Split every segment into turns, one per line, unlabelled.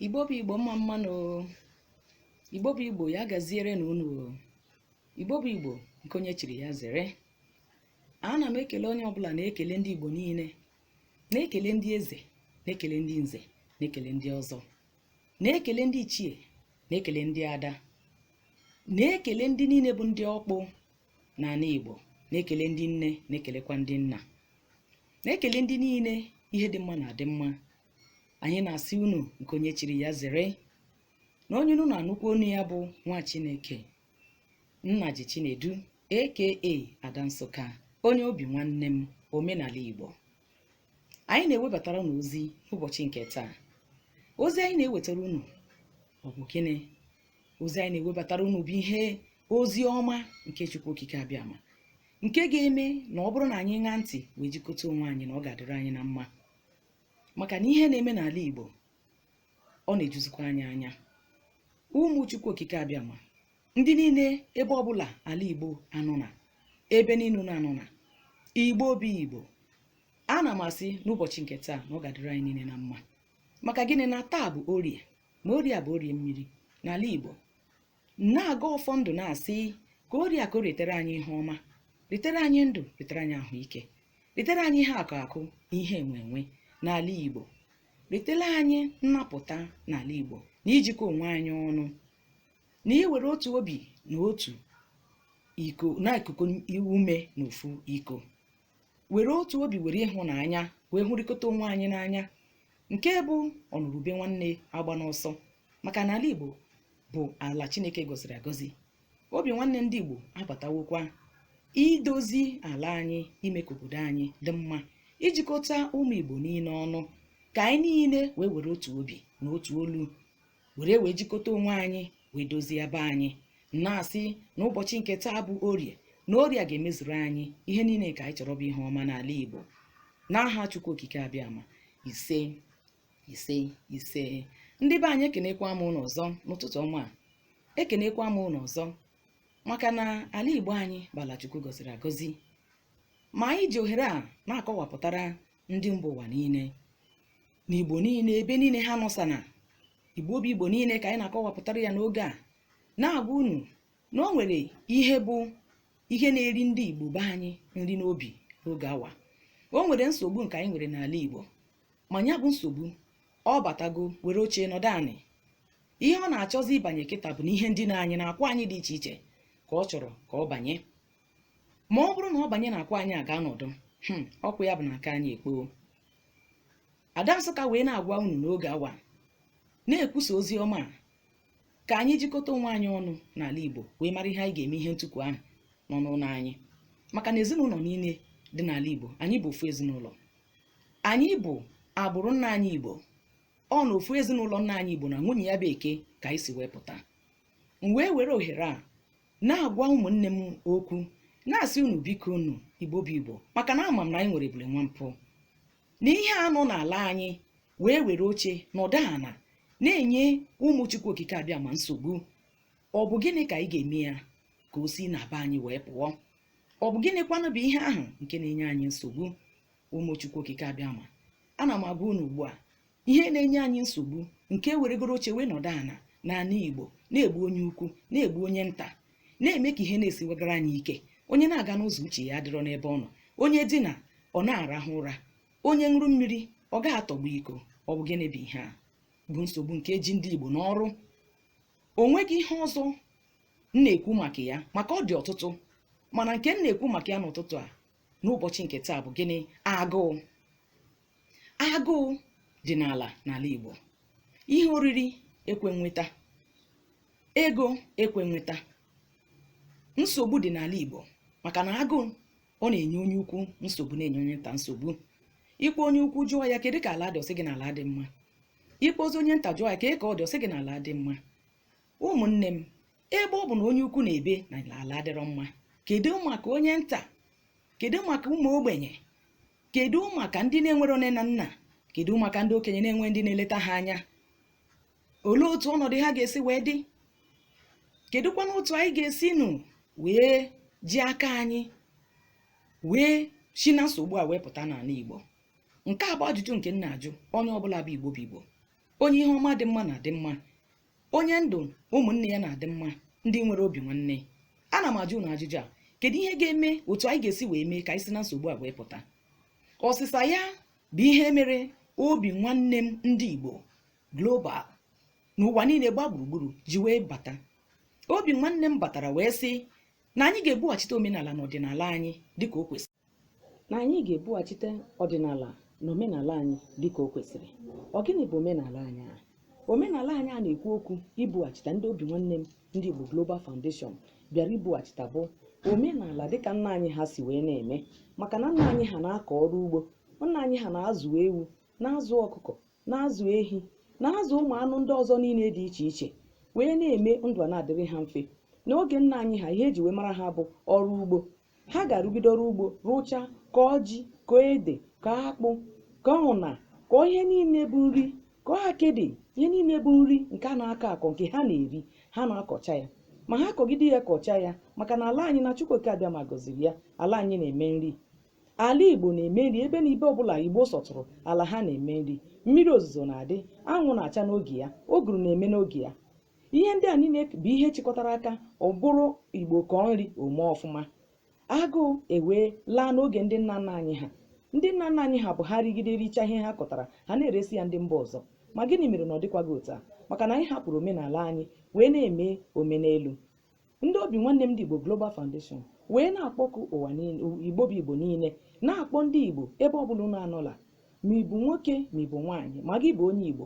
igbo bụ igbo mma mma nụ igbo bụ igbo ya gaziere na unu igbo bụ igbo nke onye chiri ya zere ana m ekele onye ọbụla na-ekele ndị igbo niile na-ekele ndị eze na-ekele ndị nze na-ekele ndị ọzọ na-ekele ndị ichie na-ekele ndị ada na-ekele ndị niile bụ ndị ọkpụ n'ala igbo na-ekele ndị nne na-ekelekwa ndị nna na-ekele ndị niile ihe dị mma na-adị mma anyị na-asị unu nke onye chiri ya zere na onye unu na-anụkwu onu ya bụ nwa chineke nnaji chinedu aka ada nsụka onye obi nwanne m omenala igbo anyị na-ewebatara unu ozi n'ụbọchị nke taa ozi anyị na-ewetara unu ọ bụ gịnị ozi anyị na-ewebatara unu bụ ihe ozi ọma nke chukwu okike abịama nke ga-eme na ọ bụrụ na anyị ṅaa ntị wee jikọta onwe anyị na ọ ga-adịrị anyị na mma maka na ihe na-eme n'ala Igbo ọ na-ejuzikwa anyị anya ụmụ Chukwu okike abịama ndị niile ebe ọbụla ala Igbo anọ na ebe niile unu anọ na Igbo bụ Igbo ana m asị n'ụbọchị nke taa na ọ ga-adịrị anyị niile na mma maka gịnị na taa bụ orie ma orie bụ orie mmiri n'ala Igbo na-agọ ọfọ ndụ na-asị ka orie akụ ritere anyị ihe ọma ritere anyị ndụ ritere anyị ahụike ritere anyị ihe akụ akụ ihe enwe enwe n'ala igbo ritere anyị nnapụta n'ala igbo na ijikọ onwe anyị ọnụ na iwere otu obi na otu iko na ikukọ ume na ofu iko were otu obi were ịhụnanya wee hụrịkọta onwe anyị n'anya nke bụ ọnụrụ ube nwanne agbana ọsọ maka na ala igbo bụ ala chineke gọziri agọzi obi nwanne ndị igbo abatawokwa idozi ala anyị ime ka obodo anyị dị mma ijikọta ụmụ igbo niile ọnụ ka anyị niile wee were otu obi na otu olu were wee jikọta onwe anyị wee dozie be anyị na-asị na ụbọchị nke taa bụ orie na orie ga-emezuru anyị ihe niile ka anyị chọrọ bụ ihe ọma n'ala Igbo n'aha Chukwu Okike abịama ise ise ise ndị be anyị ekenekwa m unu ọzọ n'ụtụtụ ọma ekenekwa m unu ọzọ maka na ala Igbo anyị bụ ala Chukwu gọziri agọzi ma anyị ji ohere a na-akọwapụtara ndị mba ụwa niile na igbo niile ebe niile ha nọsana igbo bụ igbo niile ka anyị na-akọwapụtara ya n'oge a na-agwa unu na o nwere ihe bụ ihe na-eri ndị igbo be anyị nri n'obi n'oge awa o nwere nsogbu nke anyị nwere n'ala igbo ma ya bụ nsogbu ọ batago were oche nọdụ anị ihe ọ na-achọzi ịbanye kịta bụ na ihe ndị nna anyị na-akwa anyị dị iche iche ka ọ chọrọ ka ọ banye ma ọ bụrụ na ọ banye n'akwa anyị aga nọdụ hmm, ọkwa ya bụ na aka anyị ekpoo ada nsụka wee na-agwa unu n'oge awa na-ekwusa ozi ọma a, ka anyị jikọta onwe anyị ọnụ n'ala igbo wee mara ihe anyị ga-eme ihe ntụpụ ahụ nọ n'ụlọ anyị maka na ezinụlọ niile dị n'ala igbo anyị bụ ofu ezinụlọ anyị bụ agbụrụ nna anyị igbo ọ na ofu ezinụlọ nna anyị igbo na nwunye ya bụ eke ka anyị si wee pụta m wee were ohere a na-agwa ụmụnne m okwu na-asị unu biko unu igbo bụ igbo maka na ama m na anyị nwere ebule nwa mpụ na ihe a nọ n'ala anyị wee were oche nọdụ ana na-enye ụmụ chukwu okike abịama nsogbu ọ bụ gịnị ka anyị ga-eme ya ka o si na be anyị wee pụọ ọ bụ gịnịkwanụ bụ ihe ahụ nke na-enye anyị nsogbu ụmụ chukwu okike abịama ana m agwa unu ugbu a ihe na-enye anyị nsogbu nke weregoro oche wee nọdụ ana n'ala igbo na-egbu onye ukwu na-egbu onye nta na-eme ka ihe na-esiwegara anyị ike onye na-aga n'ụzọ uche ya adịrọ n'ebe ọ nọ onye dina ọ na-arahụ ụra onye ṅụrụ mmiri ọ ga-atọgbọ iko ọ bụ gịnị bụ ihe a bụ nsogbu nke ji ndị igbo n'ọrụ o nweghị ihe ọzọ m na-ekwu maka ya maka ọ dị ọtụtụ mana nke m na-ekwu maka ya n'ụtụtụ a n'ụbọchị nke taa bụ gịnị agụụ agụụ dị n'ala n'ala Igbo ihe oriri ekwe nweta ego ekwe nweta nsogbu dị n'ala Igbo maka na agụụ ọ na-enye onye ukwu nsogbu na-enye onye nta nsogbu ị kpọọ onye ukwu jụọ ya kedu ka ala dị ọ sị gị na ala adị mma ị kpọzie onye nta jụọ ya kedu ka ọ dị ọ sị gị na ala adị mma ụmụnne m ebe ọ bụ na onye ukwu na-ebe na ala adịrọ mma kedu maka onye nta kedu maka ụmụ ogbenye kedu maka ndị na-enwerọ nne na nna kedu maka ndị okenye na-enwerọ ndị na-eleta ha anya olee otu ọnọdụ ha ga-esi wee dị kedụkwanụ otu anyị ga-esinụ wee ji aka anyị wee si na nsogbu a wee pụta n'ala Igbo nke a bụ ajụjụ nke m na-ajụ onye ọbụla bụ Igbo bụ Igbo onye ihe ọma dị mma na-adị mma onye ndụ ụmụnne ya na-adị mma ndị nwere obi nwanne ana m ajụ unu ajụjụ a kedu ihe ga-eme otu anyị ga-esi wee mee ka anyị si na nsogbu a wee pụta ọsịsa ya bụ ihe mere obi nwanne m ndị Igbo global n'ụwa niile gba gburugburu ji wee bata obi nwanne m batara wee sị na anyị ga-ebughachite omenala na ọdịnala anyị dịka o kwesịrị na anyị ga-ebughachite ọdịnala na omenala anyị dịka o kwesịrị ọ gịnị bụ omenala anyị a omenala anyị a na-ekwu okwu ibughachita ndị obi nwanne m ndị Igbo Global Foundation bịara ibughachita bụ omenala dịka nna anyị ha si wee na-eme maka na nna anyị ha na-akọ ọrụ ugbo nna anyị ha na-azụ ewu na-azụ ọkụkọ na-azụ ehi na-azụ ụmụ anụ ndị ọzọ niile dị iche iche wee na-eme ndụ a na-adịrị ha mfe n'oge nna anyị ha ihe e ji wee mara ha bụ ọrụ ugbo ha ga-arụgide ọrụ ugbo rụcha kọọ ji kọọ ede kọọ akpụ kọọ ụna kọọ ihe niile bụ nri kọọ akịdị ihe niile bụ nri nke a na-akọ akọ nke ha na-eri ha na-akọcha ya ma ha kọgide ya kọcha ya maka na ala anyị na Chukwuoke Abịama gọziri ya ala anyị na-eme nri ala Igbo na-eme nri ebe na ibe ọbụla Igbo sọtụrụ ala ha na-eme nri mmiri ozuzo na-adị anwụ na-acha n'oge ya ụgụrụ na-eme n'oge ya ihe ndị a niile bụ ihe chịkọtara aka ọ bụrụ igbo kọọ nri o mee ọfụma agụụ ewee laa n'oge ndị nna nna anyị ha ndị nna nna anyị ha bụ ha rigide richa ihe ha kọtara ha na-eresi ya ndị mba ọzọ ma gịnị mere na ọ dịkwaghị otu a maka na anyị hapụrụ omenala anyị wee na-eme omenelu ndị obi nwanne m ndị igbo global foundation wee na-akpọku ụwa niile igbo bụ igbo niile na-akpọ ndị igbo ebe ọ bụla unu anọla ma ị bụ nwoke ma ị bụ nwaanyị ma gị bụ onye igbo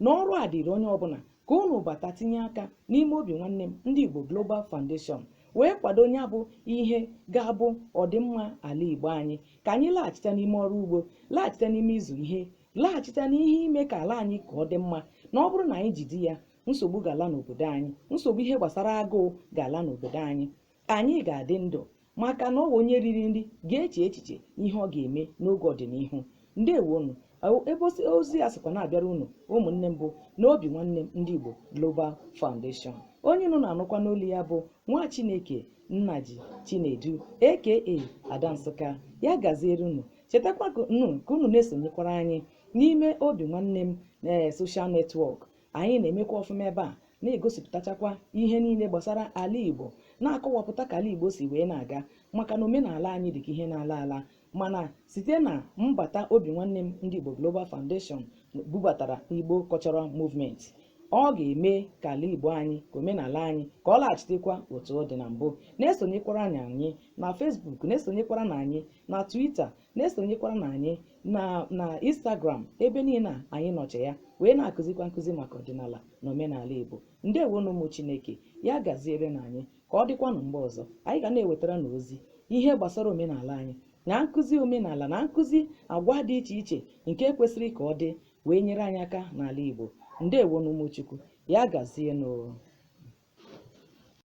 na ọrụ a dịrị onye ọbụla ka unu bata tinye aka n'ime obi nwanne m ndị Igbo Global Foundation wee kwado ya bụ ihe ga-abụ ọdịmma ala Igbo anyị ka anyị laghachite n'ime ọrụ ugbo laghachite n'ime ịzụ ihe laghachite n'ihe ime ka ala anyị ka ọ dị mma na ọ bụrụ na anyị jide ya nsogbu ga-ala n'obodo anyị nsogbu ihe gbasara agụụ ga-ala n'obodo anyị Anyị ga-adị ndụ maka na ọ bụ onye riri nri ga-eche echiche ihe ọ ga-eme n'oge ọdịnihu. Ndewonu. Ọ- Ebe osi- ozi a sikwa na-abịara unu ụmụnne m bụ na obi nwanne m ndị Igbo Global Foundation. Onye unu na-anụkwa n'olu ya bụ nwa Chineke Nnaji Chinedu aka Ada Nsụka. Ya gaziere unu. Chetakwa ka unu ka unu na-esonyekwara anyị n'ime obi nwanne m ee social network Anyị na-emekwa ọfụma ebe a na-egosipụtachakwa ihe niile gbasara ala Igbo na-akọwapụta ka ala Igbo si wee na-aga maka na omenala anyị dị ka ihe na-ala ala mana site na mbata obi nwanne m ndị Igbo Global Foundation bubatara Igbo Cultural Movement ọ ga-eme ka ala Igbo anyị ka omenala anyị ka ọ laghachitekwa otu ọ dị na mbụ na-esonyekwaranụ anyị na Facebook na-esonyekwaranụ anyị na Twitter na-esonyekwaranụ anyị na na Instagram ebe niile a anyị nọcha ya wee na-akụzikwa nkụzi maka ọdịnala na omenala Igbo ndewonụ ụmụ Chineke ya gazierenụ anyị ka ọ dịkwanụ mgbe ọzọ anyị ga na-ewetara unu ozi ihe gbasara omenala anyị na nkụzi omenala na nkụzi agwa dị iche iche nke kwesịrị ka ọ dị wee nyere anyị aka n'ala Igbo ndewonụ ụmụ Chukwu ya gazienụ